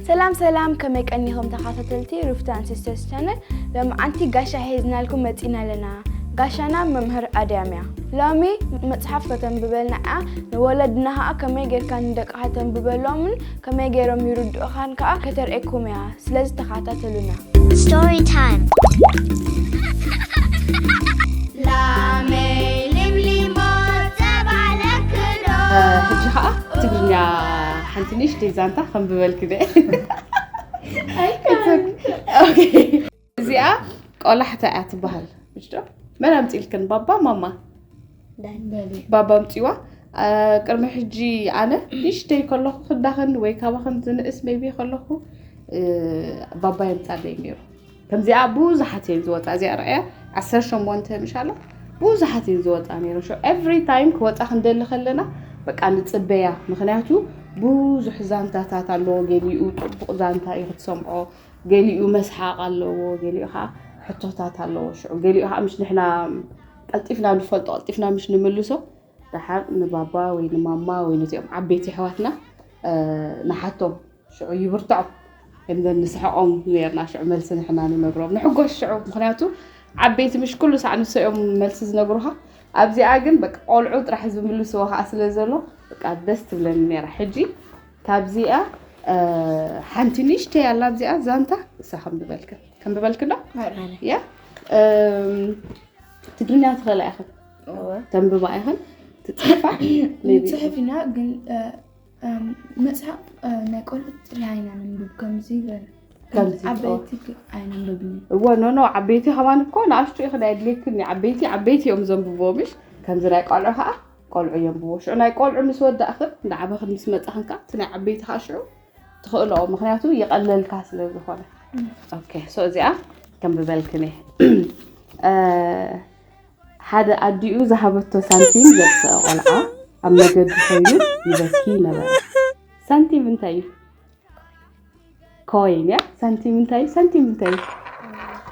ሰላም ሰላም ከመይ ቀኒኹም ተኸታተልቲ ሩፍታን ሲስተርስ ቻነል ለምዓንቲ ጋሻ ሒዝናልኩም መፂና ኣለና ጋሻና መምህር ኣድያም እያ ሎሚ መፅሓፍ ከተንብበልና እያ ንወለድና ከዓ ከመይ ጌርካ ንደቅኻ ተንብበሎምን ከመይ ገይሮም ይርድኡኻን ከኣ ከተርእየኩም እያ ስለዚ ተኻታተሉና። Story time. ሕጂ ከዓ ትግርኛ ሓንቲ ንእሽተይ ዛንታ ከንብበልኪ ደ እዚኣ ቆላሕታ እያ ትበሃል ምጭዶ መን ኣምፅኢልክን ባባ ማማ ባባ ኣምፅዋ ቅድሚ ሕጂ ኣነ ንሽተይ ከለኹ ክዳኽን ወይ ካባኽን ዝንእስ ሜቢ ከለኹ ባባ የምፃለይ ነይሩ ከምዚኣ ብዙሓት እየን ዝወፃ እዚኣ ርኣያ ዓሰርተ ሸሞንተ ምሻላ ብዙሓት እየን ዝወፃ ነይረ ሾ ኤቭሪ ታይም ክወፃ ክንደሊ ከለና በቃ ንፅበያ ምክንያቱ ብዙሕ ዛንታታት ኣለዎ ገሊኡ ጥቡቕ ዛንታ እዩ ክትሰምዖ ገሊኡ መስሓቕ ኣለዎ፣ ገሊኡ ኸዓ ሕቶታት ኣለዎ። ሽዑ ገሊኡ ኸዓ ምስ ንሕና ቀልጢፍና ንፈልጦ ቀልጢፍና ምስ ንምልሶ ደሓር ንባባ ወይ ንማማ ወይ ነዚኦም ዓበይቲ ኣሕዋትና ንሓቶም ሽዑ ይብርትዖም እምበር ንስሕቖም ነርና ሽዑ መልሲ ንሕና ንነግሮም ንሕጎስ ሽዑ ምክንያቱ ዓበይቲ ምሽ ኩሉ ሳዕ ንሶ እዮም መልሲ ዝነግሩኻ ኣብዚኣ ግን በቃ ቆልዑ ጥራሕ ዝምልስዎ ከዓ ስለ ዘሎ በቃ ደስ ትብለኒ ነይራ ሕጂ ታብዚኣ ሓንቲ ንእሽተይ ኣላ ኣብዚኣ ዛንታ እሳ ከምብበልክ ከምብበልክ ዶ ያ ትግርኛ ትኸእላ ኢኽን ተንብባ ኢኽን ትፅሕፋ ንፅሕፍ ኢና ግን መፅሓፍ ናይ ቆልዑ ጥራሕ ኢና ነንብብ ከምዚ ዓበይቲ ኣይነንብብኒ እወ ኖኖ ዓበይቲ ከማን እኮ ንኣሽቱ ኢኽን ኣየድልየክን ዓበይቲ ዓበይቲ እዮም ዘንብቦ ምሽ ከምዚ ናይ ቆልዑ ከዓ ቆልዑ የንብቡ ሽዑ ናይ ቆልዑ ምስ ወዳእኽን እንዳዓበኽን ምስ መጻኽን ከኣ እቲ ናይ ዓበይቲ ከኣ ሽዑ ትኽእልኦ ምክንያቱ ይቐለልካ ስለ ዝኾነ ኦኬ ሶ እዚኣ ከምብበልክን እየ ሓደ ኣዲኡ ዝሃበቶ ሳንቲም ዘጥፍአ ቆልዓ ኣብ መገዲ ኮይኑ ይበኪ ነበረ ሳንቲም እንታይ እዩ ኮይን እያ ሳንቲም እንታይ ሳንቲም እንታይ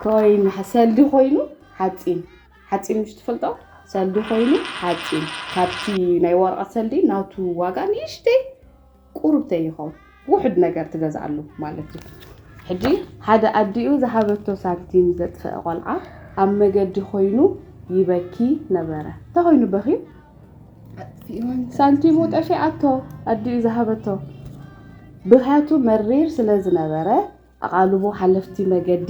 ኮይን ሰልዲ ኮይኑ ሓፂን ሓፂን ምሽ ትፈልጦ ሰልዲ ኮይኑ ሓፂን ካብቲ ናይ ወረቐት ሰልዲ ናቱ ዋጋ ንእሽተይ ቁርብተይ ይኸውን ውሕድ ነገር ትገዝኣሉ ማለት እዩ ሕጂ ሓደ ኣዲኡ ዝሃበቶ ሳንቲም ዘጥፍአ ቆልዓ ኣብ መገዲ ኮይኑ ይበኪ ነበረ እንተኮይኑ በኺ ሳንቲሙ ጠፊኣቶ ኣዲኡ ዝሃበቶ ብኽያቱ መሪር ስለ ዝነበረ ኣቓልቦ ሓለፍቲ መገዲ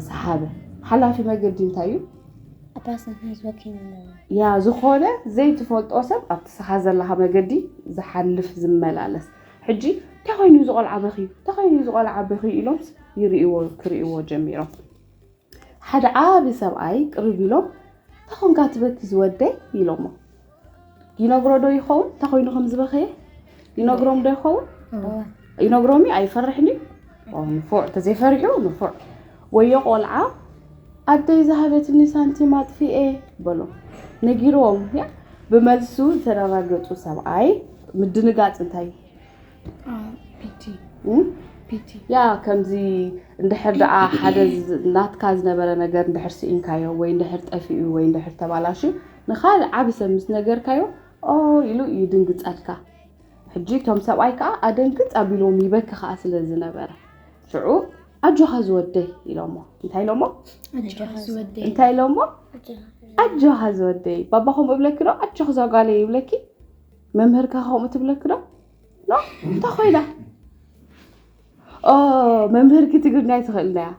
ሰሓበ። ሓላፊ መገዲ እንታይ እዩ? ያ ዝኾነ ዘይትፈልጦ ሰብ ኣብቲ ስኻ ዘለኻ መገዲ ዝሓልፍ ዝመላለስ ሕጂ እንታይ ኮይኑ ዝቆልዓ በኽዩ እንታይ ኮይኑ ዝቆልዓ በኽዩ ኢሎምስ ይርእዎ ክርእዎ ጀሚሮም ሓደ ዓቢ ሰብኣይ ቅርብ ኢሎም እንታይ ኾንካ ትበኪ ዝወደይ ኢሎሞ ይነግሮ ዶ ይኸውን እንታይ ኮይኑ ከም ዝበኸየ ይነግሮም ዶ ይኸውን ይነግሮም እዩ ኣይፈርሕን እዩ ንፉዕ ተዘይፈሪሑ ንፉዕ ወዮ ቆልዓ ኣደይ ዝሃበትኒ ሳንቲም ኣጥፊኤ በሎ ነጊሮም ብመልሱ ዝተረጋገፁ ሰብኣይ ምድንጋፅ እንታይ ያ ከምዚ እንድሕር ደኣ ሓደ ናትካ ዝነበረ ነገር እንድሕር ስኢንካዮ ወይ እንድሕር ጠፊኡ ወይ እንድሕር ተባላሹ ንካልእ ዓብ ሰብ ምስ ነገርካዮ ኦ ኢሉ ይድንግጸልካ ሕጂ እቶም ሰብኣይ ከዓ ኣደንግጽ ኣቢልዎም ይበኪ ከዓ ስለ ዝነበረ ሽዑ ኣጆኻ ዝወደይ ኢሎሞ እንታይ ኢሎሞ እንታይ ኢሎሞ ኣጆኻ ዝወደይ ባባኹም እብለኪ ዶ ኣጆኽ ዛጓለይ ይብለኪ መምህርካ ከምኡ ትብለክ ዶ ኖ እንታይ ኮይና ኦ መምህርኪ ትግርኛ ኣይትኽእልና እያ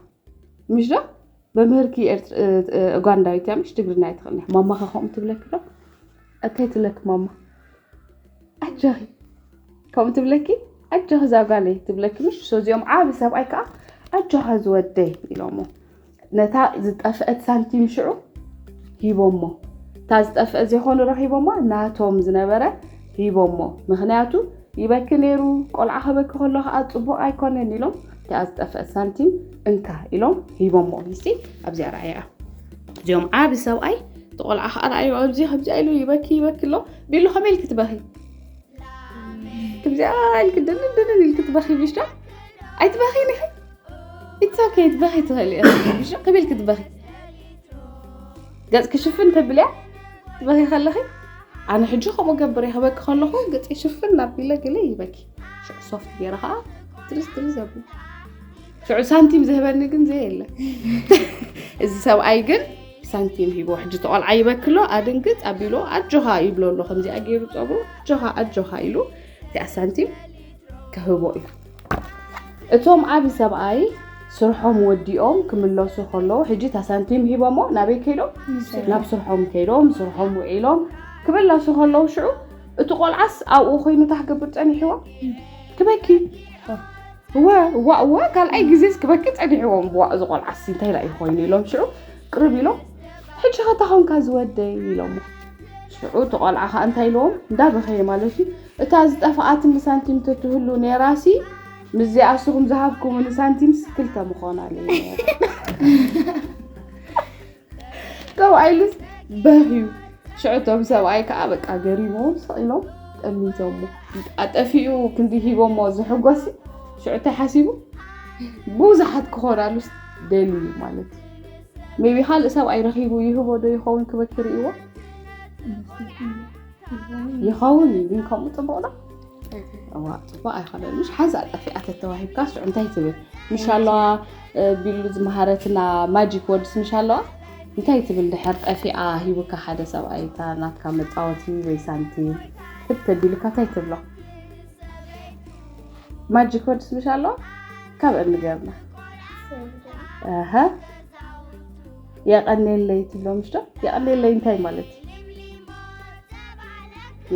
ምሽ ዶ መምህርኪ ኡጋንዳዊት እያ ምሽ ትግርኛ ኣይትኽእልና እያ ማማኻ ከምኡ ትብለክ ዶ እንታይ ትብለክ ማማ ኣጆኺ ከምኡ ትብለኪ ኣጆኺ እዛ ጓለይ ትብለኪ ምሽ ሶዚኦም ዓብ ሰብኣይ ከዓ ኣጆኻ ዝወደይ ኢሎሞ ነታ ዝጠፍአት ሳንቲም ሽዑ ሂቦሞ እታ ዝጠፍአ ዘይኮኑ ረኺቦማ ናቶም ዝነበረ ሂቦሞ ምክንያቱ ይበኪ ነይሩ ቆልዓ ከበኪ ከሎ ከዓ ፅቡቅ ኣይኮነን ኢሎም እቲኣ ዝጠፍአት ሳንቲም እንካ ኢሎም ሂቦሞ ይሲ ኣብዚኣ ረኣያ እዚኦም ዓብ ሰብኣይ ተቆልዓ ከዓ ረኣዩ ኣብዚ ከምዚኣ ኢሉ ይበኪ ይበኪ ኣሎ ቢሉ ከመይ ኢልኪ ትበኺ ከምዚኣ ኢልኪ ድንን ድንን ኢልኪ ትበኺ ብሻ ኣይትበኺን ኢኺ ኢትስ ኦኬ ክትበኺ ትኽእሊ ኢኺ ሽቕ ቢል ክትበኺ ገፅኪ ሽፍን ተብልያ ትበኺ ከለኺ ኣነ ሕጂ ከምኡ ገብር እየ ክበኪ ከለኹ ገፂ ሽፍን ኣቢለ ገለ ይበኪ ሽዑ ሶፍት ገይረ ከዓ ትርስ ትርስ ዘብል ሽዑ ሳንቲም ዝህበኒ ግን ዘይ የለ እዚ ሰብኣይ ግን ሳንቲም ሂቦ ሕጂ ተቆልዓ ይበክሎ ኣድንግፅ ኣቢሎ ኣጆኻ ይብሎ ኣሎ ከምዚኣ ገይሩ ፀጉሩ ኣጆኻ ኣጆኻ ኢሉ እቲኣ ሳንቲም ክህቦ እዩ እቶም ዓቢ ሰብኣይ ስርሖም ወዲኦም ክምለሱ ከለዉ ሕጂ እታ ሳንቲም ሂቦሞ ናበይ ከይዶም ናብ ስርሖም ከይዶም ስርሖም ውዒሎም ክምለሱ ከለዉ ሽዑ እቲ ቆልዓስ ኣብኡ ኮይኑ እንታይ ክገብር ጸኒሕዎ ክበኪ እወ እዋ እወ ካልኣይ ግዜስ ክበኪ ጸኒሕዎም ብዋ እዚ ቆልዓሲ እንታይ ዳእዩ ኮይኑ ኢሎም ሽዑ ቅርብ ኢሎም ሕጂ ከታ ኮንካ ዝወደይ ኢሎሞ ሽዑ እቲ ቆልዓ ከዓ እንታይ ኢልዎም እንዳበኸየ ማለት እዩ እታ ዝጠፈኣትኒ ሳንቲም ተትህሉ ኔራሲ ምስዚኣ ንስኹም ዝሃብኩምኒ ሳንቲምስ ክልተ ምኾናለይ ሰብኣይ ልስ በህዩ ሽዕቶም ሰብኣይ ከዓ በቃ ገሪሞም ሰቂሎም ጠሚቶሞ ኣጠፊኡ ክንዲ ሂቦሞ ዝሕጎሲ ሽዑተ ሓሲቡ ብዙሓት ክኾናሉስ ደሊ እዩ ማለት እዩ ሜቢ ካልእ ሰብኣይ ረኺቡ ይህቦ ዶ ይኸውን ክበክር እዎ ይኸውን እዩ ግን ከምኡ ፅቡቅ ዶ እዋእ ፅቡቅ ኣይኮነን ምሽ ሓዛ ጠፊኣ ተተዋሂብካ ስዑ እንታይ ትብል ምሽ ኣለዋ ቢሉ ዝመሃረትና ማጂክ ወድስ ምሽ ኣለዋ እንታይ ትብል ድሕር ጠፊኣ ሂቡካ ሓደ ሰብኣይ እታ ናትካ መፃወቲ ወይ ሳንቲም ክብ ተቢሉካ እንታይ ትብሎ ማጂክ ወድስ ምሽ ኣለዋ ካብ እንገብና የቀኔለይ ትብሎምሽ ዶ የቀኔለይ እንታይ ማለት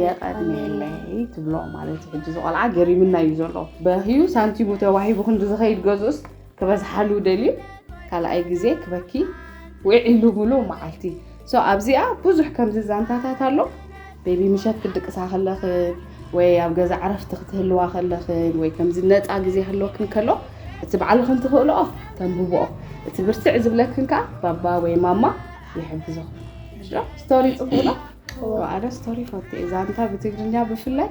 የቀኔለይ ትብሎ ማለት ሕጂ ዝቆልዓ ገሪምና እዩ ዘሎ በህዩ ሳንቲሙ ተዋሂቡ ክንዲ ዝኸይድ ገዝኡስ ክበዝሓሉ ደልዩ ካልኣይ ግዜ ክበኪ ውዒሉ ምሉእ መዓልቲ ኣብዚኣ ብዙሕ ከምዚ ዛንታታት ኣሎ ቤቢ ምሸት ክትድቅሳ ከለኽን ወይ ኣብ ገዛ ዕረፍቲ ክትህልዋ ከለኽን ወይ ከምዚ ነፃ ግዜ ህልወክን ከሎ እቲ ባዕልኽን ትኽእልኦ ተንብብኦ እቲ ብርትዕ ዝብለክን ከዓ ባባ ወይ ማማ ይሕግዞ ስቶሪ ፅቡቅ ነው። ኣነ ስቶሪ ፈቴ ዛንታ ብትግርኛ ብፍላይ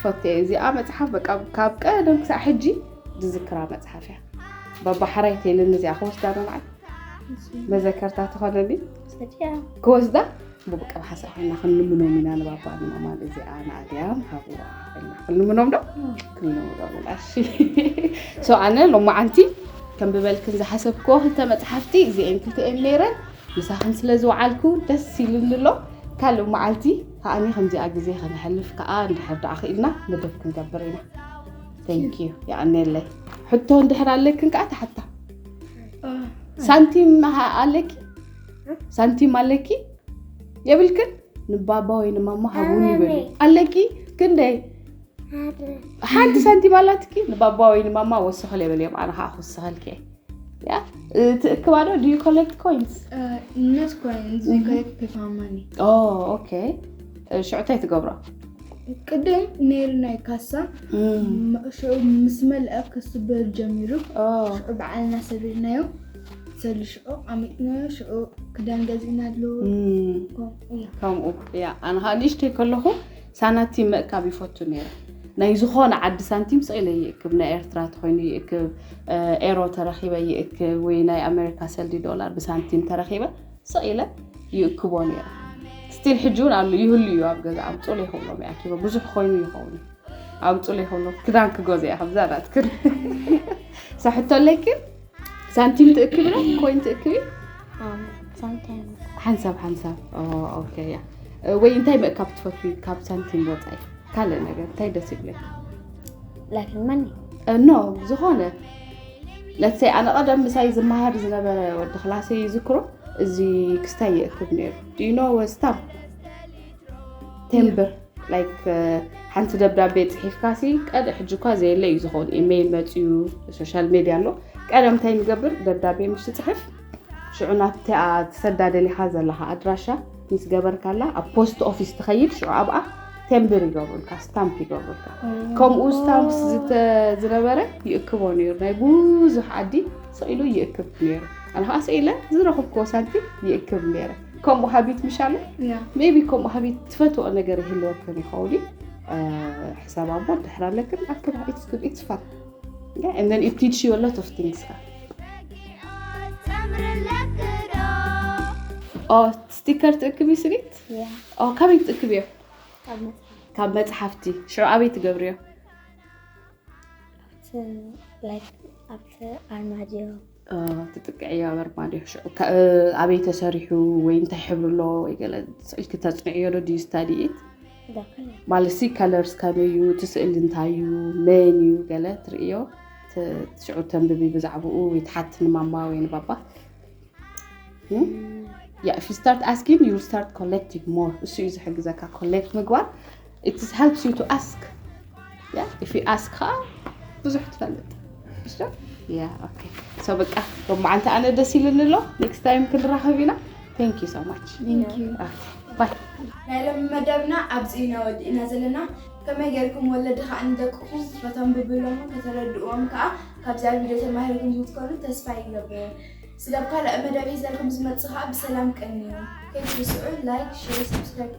ፈቴ እዚኣ መፅሓፍ በቃ ካብ ቀደም ክሳዕ ሕጂ ዝዝክራ መፅሓፍ እያ ባባ ሓራይ ቴልን እዚኣ ክወስዳ መባዓል መዘከርታ ትኾነኒ ክወስዳ ብውቀብ ሓሳብ ኮይና ክንልምኖም ኢና ንባባ ንማማን እዚኣ ንኣድያም ሃብዋ ኢልና ክንልምኖም ዶ ክንልምኖም ኢና እሺ ሶ ኣነ ሎማዓንቲ ከንብበልክን ዝሓሰብክዎ ክልተ መፅሓፍቲ እዚአን ክልቲኤን ነይረን ምሳኽን ስለ ዝወዓልኩ ደስ ኢሉኒ ኣሎ ካልእ መዓልቲ ከዓኒ ከምዚኣ ግዜ ከነሕልፍ ከዓ እንድሕር ደኣ ክኢልና መደብ ክንገብር ኢና ቴንክ ዩ ይቀኒየለይ ሕቶ እንድሕር ኣለክን ከዓ ተሓታ ሳንቲም ኣለኪ ሳንቲም ኣለኪ የብልክን ንባባ ወይ ንማማ ሃቡኒ በሉ ኣለኪ ክንደይ ሓንቲ ሳንቲም ኣላትኪ ንባባ ወይ ንማማ ወስኸል የበል እዮም ኣነ ከዓ ክወስኸልኪ እየ ትእክባ ዶ ዩ ኮሌክት ኮይንስ ኦኬ ሽዑ እንታይ ትገብሮ ቅድም ነይሩ ናይ ካሳ ሽዑ ምስ መልአ ክስበል ጀሚሩ ሽዑ በዓልና ሰቢርናዮ ከምኡ እያ ኣነ ከዓ ንእሽተይ ከለኹ ሳናቲም ምእካብ ይፈቱ ነይረ ናይ ዝኾነ ዓዲ ሳንቲም ስኢለ ይእክብ ናይ ኤርትራ ተኮይኑ ይእክብ ኤሮ ተረኪበ ይእክብ ወይ ናይ ኣሜሪካ ሰልዲ ዶላር ብሳንቲም ተረኪበ ስኢለ ይእክቦ ነይረ ስቲል ሕጂ እውን ኣሉ ይህሉ እዩ ኣብ ገዛ ኣምፅሉ ይኸብሎም ይኣኪቦ ብዙሕ ኮይኑ ይኸውን ኣምፅሉ ይኸብሎም ክዳን ክገዝእ እያ ከምዛ ናትክን ሳሕቶ ኣለይክን ሳንቲም ትእክብ ዶ ኮይን ትእክቢ ሓንሳብ ሓንሳብ ኦኬ እያ ወይ እንታይ ምእካብ ትፈትዊ ካብ ሳንቲም ወፃኢ ካልእ ነገር እንታይ ደስ ይብለክ ላክልመኒ ኖ ዝኾነ ለትሰይ ኣነ ቀደም ምሳይ ዝመሃር ዝነበረ ወዲ ክላሰይ ይዝክሮ እዚ ክስታይ ይእክብ ነይሩ ዲኖ ወስታም ቴምብር ላይክ ሓንቲ ደብዳቤ ፅሒፍካ ሲ ቀደ ሕጂ እኳ ዘየለ እዩ ዝኸውን ኢሜይል መፅዩ ሶሻል ሜድያ ኣሎ ቀደም እንታይ ንገብር ደብዳቤ ምስ ትፅሕፍ ሽዑ ናብታ ትሰዳ ደሊኻ ዘለኻ ኣድራሻ ምስ ገበርካላ ኣብ ፖስት ኦፊስ ትኸይድ ሽዑ ኣብኣ ቴምብር ይገብሩልካ ስታምፕ ይገብሩልካ ከምኡ ስታምፕ ዝነበረ ይእክቦ ነይሩ ናይ ብዙሕ ዓዲ ስኢሉ ይእክብ ነይሩ ኣነ ከዓ ስኢለ ዝረኽብክዎ ሳንቲም ይእክብ ነይረ ከምኡ ሃቢት ምሻለ ሜቢ ከምኡ ሃቢት ትፈትኦ ነገር ይህልወክን ይኸውን እዩ ሕሳብ ኣቦ ድሕር ኣለክን ኣክል ኢትስ ጉድ ኢትስ ፋን and then it teach you a lot of things ኦ ስቲከር ትእክብ እዩ ስኒት ኦ ካበይ ትእክብ እዮ ካብ መፅሓፍቲ ሽዑ ኣበይ ትገብርዮ ኣብቲ ኣርማድዮ ትጥቅዕያ በርባድ እዩ ሽዑ ኣበይ ተሰሪሑ ወይ እንታይ ሕብሪ ኣሎ ወይ ገለ ስእልኪ ተፅንዕዮ ዶ ድዩ ስታዲኢት ማለት ሲ ከለርስ ከመይ እዩ እቲ ስእሊ እንታይ እዩ መን እዩ ገለ ትርእዮ ሽዑ ተንብቢ ብዛዕባኡ ወይ ትሓቲ ንማማ ወይ ንባባ ያ ፊ ስታርት ኣስኪን ዩ ስታርት ኮሌክቲንግ ሞር እሱ እዩ ዝሕግዘካ ኮሌክት ምግባር ኢት ሄልፕስ ዩ ቱ ኣስክ ኢፍ ዩ ኣስክ ከዓ ብዙሕ ትፈልጥ ሰው በቃ ሎማዓንቲ ኣነ ደስ ኢሉኒ ኣሎ ኔክስት ታይም ክንራኸብ ኢና ቴንክ ዩ ሶ ማች ባይ ናይ ሎሚ መደብና ኣብዚ ኢና ወዲእና ዘለና ከመይ ጌርኩም ወለዲ ከዓ ንደቅኹም ከተንብብሎም ከተረድእዎም ከዓ ካብዛ ቪድዮ ተማሂርኩም ክትኮኑ ተስፋ ይገብር ስለ ካልእ መደብ ሒዘልኩም ዝመፅእ ከዓ ብሰላም ቀንዩ ከይትርስዑ ላይክ ሼር ሰብስክራይብ